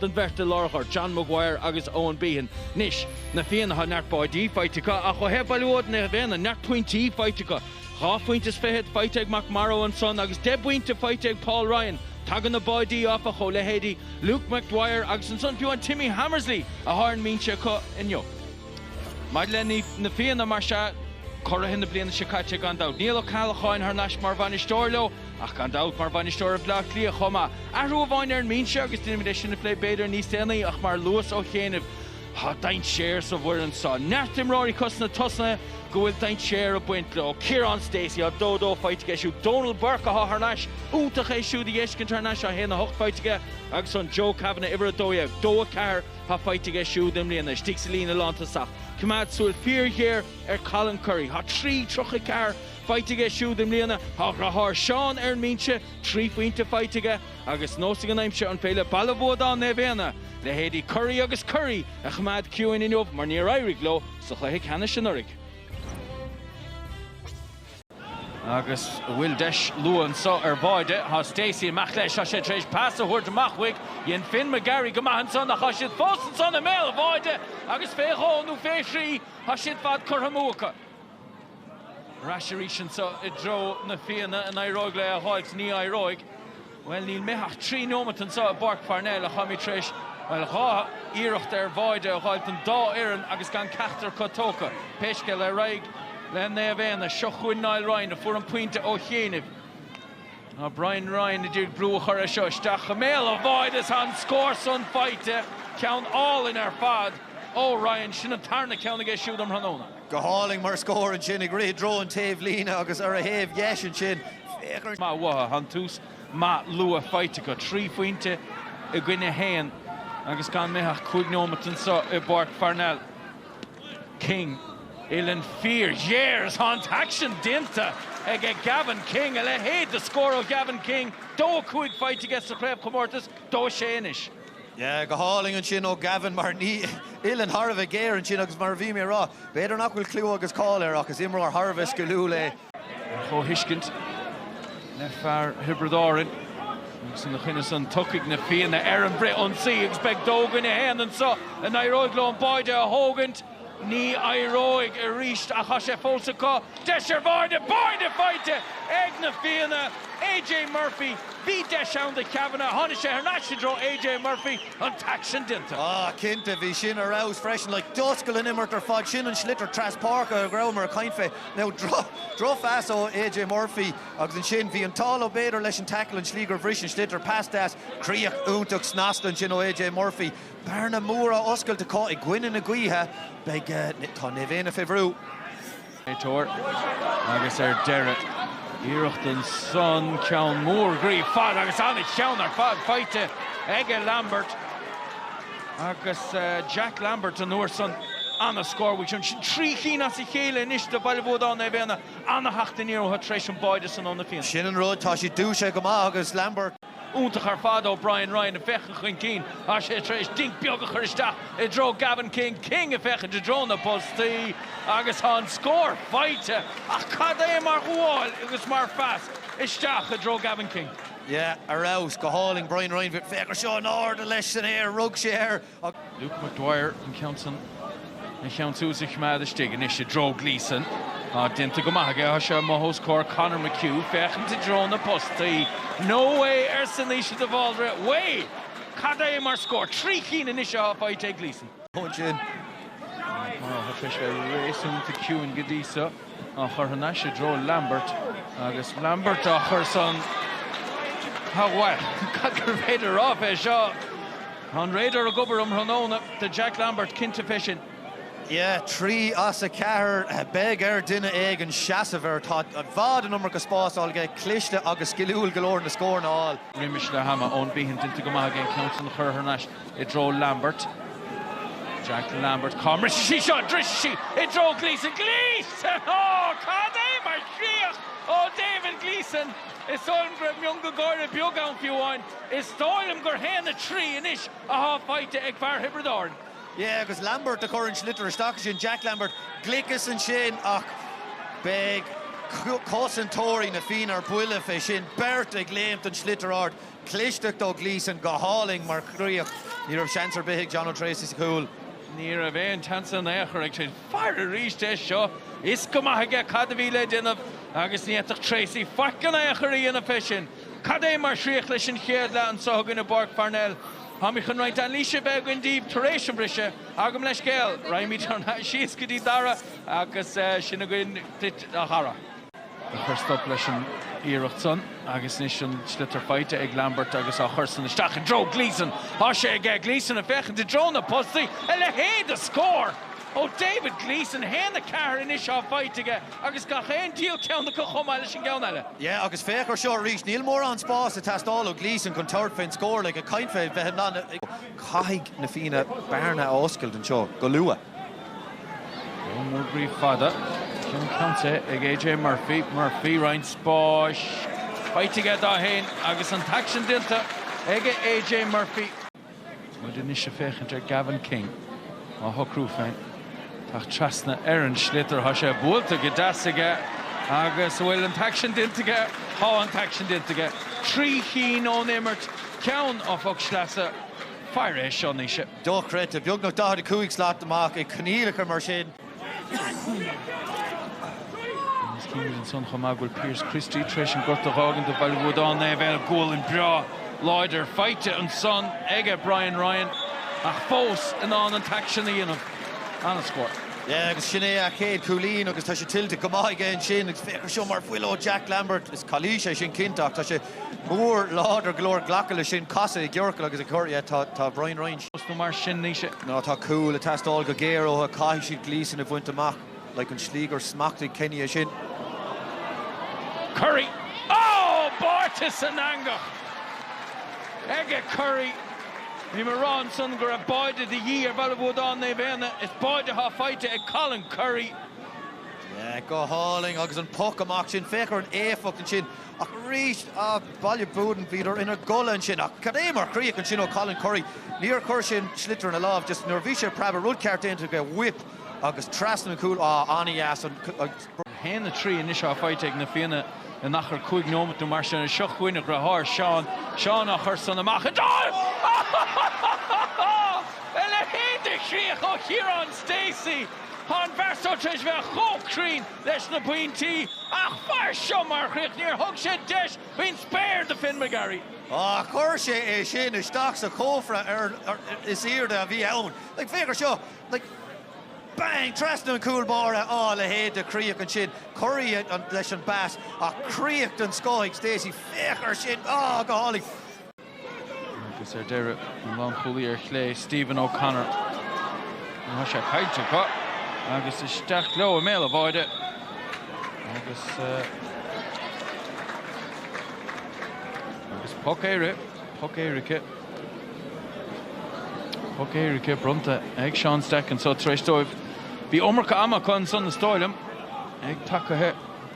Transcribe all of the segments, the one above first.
don bheirt i lár ghort, John McGuire agus Owen Behan. Anois, Na Fianna thá neart báidí faighte acu ach ó thaobh Bhaile Buadáin Naomh Éanna, neart pointí faighte acu. Dhá phointe is fichead faighte ag McMorrow ansan agus deich bpointe faighte ag Paul Ryan. Tagann na báidí, áfach, ó leithéidí Luke McDwyer agus ansan fiú an Timmy Hammersley athá ar an mbinse acu inniu. Maidir le Na Fianna, mar sea, curaithe na bliana seo caite gan dabht, Niall Ó Ceallacháin thar n-ais mar bhainisteoir leo. Ach gan dabht, mar bhainisteoir ar Bhleá Cliath chomh maith. Athrú amháin ar an mbinse agus déanfaimid é sin a phlé b'fhéidir níos déanaí ach mar luas ó chianaibh, tá dainséar sa bhfoireann seo. Neart imreoirí acu sna tosaithe go bhfuil dainséar ag baint leo. Ciarán Stacey, thá dó dó faighte aige siúd. Dónal Burke athá thar n-ais, iontach é siúd a dh'fheiscint thar n-ais, thá a haon a hocht faighte aige agus an Joe Kavanagh uimhir a dó dhéag, dó a ceathair athá faighte aige siúd i mbliana, istigh sa líne lántosach. Coimeád súil fíorghéar ar Colin Currie. Tá trí tríocha ceathair faighte aige siúd i mbliana. Tá a dhriotháir Seán ar an mbinse, trí phointe faighte aige agus neosfaidh an aimsir an féidir le Baile Buadáin Naomh Éanna, leithéidí Currie agus Currie, a choimeád ciúin inniu mar níor éirigh leo sa chluiche ceannais anuraidh. Agus an bhfuil deis luath anseo ar bháide, tá Stacey amach leis, tá sé tar éis pas a thabhairt amach uaidh, dhein Finn McGarry go maith ansan ach tá siad fós ansan i mbéal an bháide agus fé dhó nó fé thrí, tá siad ar fad curtha amú acu. Ar ais arís anseo i dtreo na Fianna. An éireoidh leo é a dh'fháilt? Ní éireoidh. Bhuel, níl imithe ach trí nóimeat anseo i bPáirc Pharnell ach táimid tar éis, bhuel, dhá iarracht ar bháide a dh'fháilt don dá fhoireann agus gan ceachtar acu tógtha. Pé scéal é, ar aghaidh le Naomh Éanna. Seo chugainn Niall Ryan, a fuair an pointe ó chianaibh. Thá Brian Ryan a d'iarraidh brú a chur air seo. Isteach i mbéal an bháide is tá an scór san faighte. Ceann álainn ar fad ó Ryan. Sin an tarna ceann aige siúd um thráthnóna. Go hálainn mar scór ansin, ag rith i dtreo an taobhlíne agus ar a thaobh dheis ansin, fíormhaith uaidh. An tús maith luath faighte acu, trí phointe i gcoinne a haon agus gan imithe ach cúig nóimeat anseo i bPáirc Pharnell. King, uillinn fíorghéar is tá an t-aicsean déanta aige Gavin King. A leithéid de scór ó Gavin King! Dó a cúig faighte aige sa chraobhchomórtas, dó a sé anois. Yeah, go hálainn ansin ó Gavin mar bhí an uillinn thar a bheith géar ansin agus mar a bhí mé a rá, b'fhéidir nach bhfuil cliú agus cáil air ach is imreoir thar a bheith sciliúil é. Ar chomhthuiscint le fear Thiobraid Árainn agus ina choinne san tiocfaidh na Fianna ar an bhfrithionsaí agus beidh dó i gcoinne a haon anso an éireoidh leo an báide a thógaint. Ní éireoidh arís ach tá sé fós acu. Deis ar bháide, báide faighte ag na Fianna. AJ Murphy, Bhí deis ann do Chavanagh, tháinig sé thar n-ais i dtreo AJ Murphy, an t-aicsean déanta. Ah, cinnte, bhí sin ar fheabhas freisin. Like, d'oscail an imirt ar fad. Sin an sliotar treaspháirce a rabhamar ag caint fé. Now, drochphas ó AJ Murphy agus ansin bhí an t-ádh, nó b'fhéidir leis an tackle, an tslí gur bhris an sliotar, pas deas, críoch iontach snasta ansin ó AJ Murphy. Bearna mhór á oscailt acu i gcoinne na gaoithe, beidh, tá Naomh Éanna fé bhrú. Téir agus ar deireadh, iarracht ansan ceann mór groí fada agus an-cheann ar fad faighte aige Lambert agus Jack Lambert an uair san ana-scór is ea sin. Sin trí chinn as a chéile anois do Bhaile Bhuadáin Naomh Éanna, ana-theacht aniar iontu tar éis an báide san ó na Fianna. Sin an rud, tá siad dúisithe go maith agus Lambert. iontach ar fad ó Brian Ryan ag féachaint chun cinn agus é tar éis dinc beag a chur isteach i dtreo Gavin King. King ag féachaint i dtreo na bpostaí agus tá an scór faighte ach cad é mar ghabháil agus mar phas isteach i dtreo Gavin King. Yeah, ar fheabhas, go hálainn. Brian Ryan, féach ar seo, in airde leis san aer, rug sé air. Luke Maguire an ceann san, an ceann san a choimeád istigh anois i dtreo Gleeson. Tá déanta go maith aige, tá sé amuigh os comhair Conor McHugh, féachaint i dtreo na postaí. No way arsa Naoise de Bháldraithe. Way! Cad é mar scór! Trí cinn anois atá faighte ag Gleeson. Tá sé réasúnta ciúin go dtí seo. á chur thar n-ais i dtreo Lambert agus Lambert á chur san ar aghaidh. Cad gur féidir a rá fé seo! Tá an radar ag obair um thráthnóna do Jack Lambert, cinnte fé sin. Yeah, trí as a cheathair. Beidh ar duine éigin seasamh air. Tá i bhfad an iomarca spás fáil aige, cliste agus sciliúil go leor na scóranna a fháil. Roimis leath ama ó Nibitheach, déanta go maith aige an ceann san a chur thar n-ais. i dtreo Lambert. Jack Lambert, cá mbrisfidh sí seo? Brisfidh sí i dtreo Gleeson. Gleeson! Ó, cad é mar chríoch ó David Gleeson! Is dóigh liom go raibh mionga gáire beag ann fiú amháin. Is dóigh liom gur 1-3 anois athá faighte ag fear Thiobraid Árann. Yeah, agus Lambert a chur an sliotar isteach ansin, Jack Lambert. Gliceas ansin ach beidh cosantóirí na Fianna ar buile fé sin. Beirt ag léimt don sliotar ard. clisteacht ó Gleeson go hálainn mar chríoch. Ní raibh seans ar bith ag Jono Tracy sa chúl. Ní raibh aon tseans in aon chor ag Tracy. Féach arís air seo. Fhios go maith aige cad a bhí le déanamh agus ní fhéadfadh Tracy faic in aon chor a dhéanamh fé sin. Cad é mar chríoch leis an chéad leath anseo chugainn i bPáirc Pharnell. Táimid chun roinnt anailíse a bheith againn daoibh tar éis an briseadh. Gabh mo leithscéal. Raghaimid síos go dtí Darragh agus seo againn chugat a Dharragh. ag cur stop leis an iarracht san agus anois an sliotar faighte ag Lambert agus á chur san isteach i dtreo Gleeson. Tá sé aige Gleeson ag féachaint i dtreo na postaí a leithéid de scór ó David Gleeson, 1, 4 anois atá faighte aige agus gach aon diabhal ceann acu chomh maith leis an gceann eile. Yeah agus féach ar seo arís, níl mórán spáis ag teastáil ó Gleeson chun tabhairt fén scór, like ag caint fé bheith i ndan caithfidh na Fianna bearna a oscailt anseo go luath. Go mór brí fada, Cill Chainnte ag AJ Murphy, Murphy roinnt spáis faighte aige dó féin agus an t-aicsean déanta aige AJ Murphy. Muid anois ag féachaint ar Gavin King á shocrú féin. Tá trasna ar an sliotar, tá sé buailte go deas aige agus bhfuil an t-aicsean déanta aige, tá an t-aicsean déanta aige. Trí chinn ón imirt, ceann ó phoc sleasa, fair é seo anois. dochreidte, beagnach 45 slat amach i gcoinníollacha mar sin. Is cinnte ansan chomh maith go bhfuil Pearse Christie tar éis an gort a dh'fhágaint do Bhaile Bhuadáin, Naomh Éanna, gualainn breá láidir faighte ansan aige, Brian Ryan, ach fós in ann an t-aicsean a dhéanamh. An-scór. Yeah, agus sin é a chéad chúilín agus tá sé tuillte go maith aige ansin agus féach ar seo mar bhuille ó Jack Lambert. Is calaois é sin cinnte ach tá sé. mór, láidir go leor glacadh leis sin, casadh i gciorcal agus ag cur yeah tá tá Brian Ryan. post nó mar sin níl sé. nó tá cúil ag teastáil go géar uathu caithfidh siad Gleeson a bhaint amach like an slí gur smachtaigh Kenny é sin. Currie, oh báite san eangach aige Currie bhí mé rá ansan go raibh báire de dhíth ar Bhaile Bhuadáin Naomh Éanna is báire atá faighte ag Colin Currie. yeah go hálainn agus an poc amach sin féach ar an éifeacht ansin. Ach arís, Baile Buadáin, bhíodar ina gcodladh ansin. Ach cad é mar chríoch ansin ó Colin Currie? Níor chuir sé an sliotar ina láimh, just nuair a bhí sé ag preabadh, rud ceart déanta aige, whip agus trasna an chúil, ah, an-dheas. 1-3 anois atá faighte ag Na Fianna in achar cúig nóimeat nó mar sin. Ach seo chugainn a dhriotháir, Seán. Seán á chur san amach idir! A leithéid de chríoch ó Chiarán Stacey! Tá an fear seo tar éis bheith chomh cruinn! leis na pointí ach féach ar seo mar chríoch níor thug sé deis faoin spéir do Finn McGarry. Ach chuir sé é sin isteach sa chófra is airde a bhí ann. Féach ar seo. Bang! Trasna an chúl báire. Á, a leithéid de chríoch ansin. Currie leis an bpas ach críoch den scoth ag Stacey. Féach ar sin. Á, go hálainn. Agus ar deireadh, an lánchúlaí ar chlé, Stephen O'Connor. Ní raibh sé caillte acu agus isteach leo i mbéal an bháire agus agus poc Éire, poc éirice, poc éirice bronnta ag Seán Stack anso tar éis dóibh. Bhí iomarca ama acu ansan is dóigh liom, ag tacaithe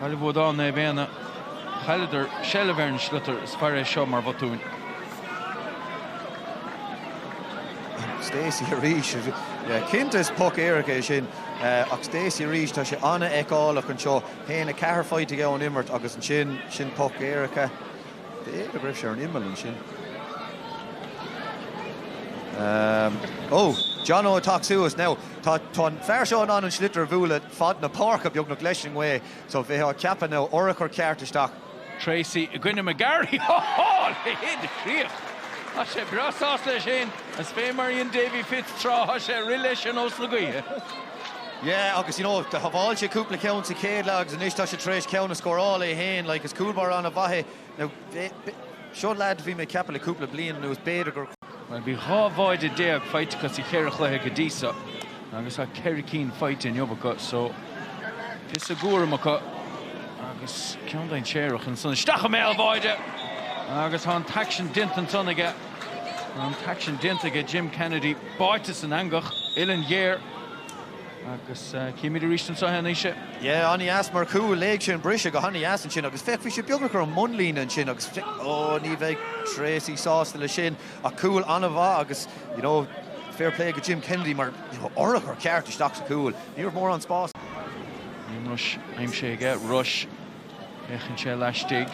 Baile Bhuadáin Naomh Éanna, chailleadar seilbh ar an sliotar is féach air seo mar bhotúin. Stacey arís. Cinnte is poc éirice é sin ach Stacey arís, tá sé an-fheiceálach anseo. Tá 4 phointe aige ón imirt agus ansin sin poc éirice. B'fhéidir go raibh sé ar an imeall ansin. Ó! John Ó ag tacú suas. Now tá an fear seo in ann an sliotar a bhualadh. fad na páirce, beagnach, leis an ngaoth. So bheitheá ceapadh, urchar ceart isteach. Tracey i gcoinne McGarry. Ohoo! Curtha i gcríoch. Tá sé breá sásta leis féin. Is fé mar a dhein Davy Fitz tráth, tá sé ag rith leis ar nós na gaoithe. Yeah, agus you know, shábháil sé cúpla ceann sa chéad leath agus anois tá sé tar éis ceann a scóráil é féin. Like, is cúl báire an-mhaith é. Now, seo leaid bhí mé ag ceapadh le cúpla bliain anuas, b'fhéidir gur. Well, bhí 12 bháide faighte acu sa cheithre chluiche go dtí so, agus tá ceithre cinn faighte inniu acu, so píosa dá gcúram acu, agus ceann d'aon séarach ansan isteach i mbéal bháide, agus tá an t-aicsean déanta ansan aige, tá an t-aicsean déanta aige, Jim Kennedy báite san eangach, uilleann ghéar. Agus chímid arís anseo anois. Yeah, an-dheas mar chúl, léigh sé an briseadh go han-deas ansin agus féach, bhí sé beagnach ar an mbunlíne ansin agus, ó, ní bheidh Tracey sásta leis sin ach cúl an-mhaith agus, you know, fair play go Jim Kennedy mar, you know, urchar ceart isteach sa chúl, ní raibh mórán spáis. Liam Rushe aimsithe aige, Rushe. Féachann sé laistigh.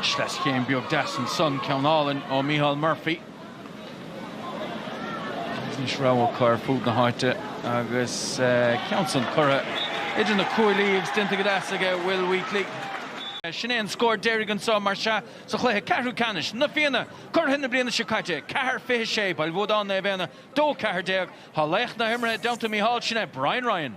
Sleaschéim beag deas ansan, ceann álainn ó Micheál Murphy. Anois rogha acu ar fud na háite agus eh, ceann san curtha idir na cuaillí agus déanta go deas aige Will Wheatley. Eh, sin é an scór deiridh anso más ea sa chluiche ceathrú ceannais. Na Fianna, curaidh na bliana seo caite, 4-26, Baile Bhuadáin Naomh Éanna, 2-14. Tá laoch na himeartha i dteannta Micheál, sin é Brian Ryan.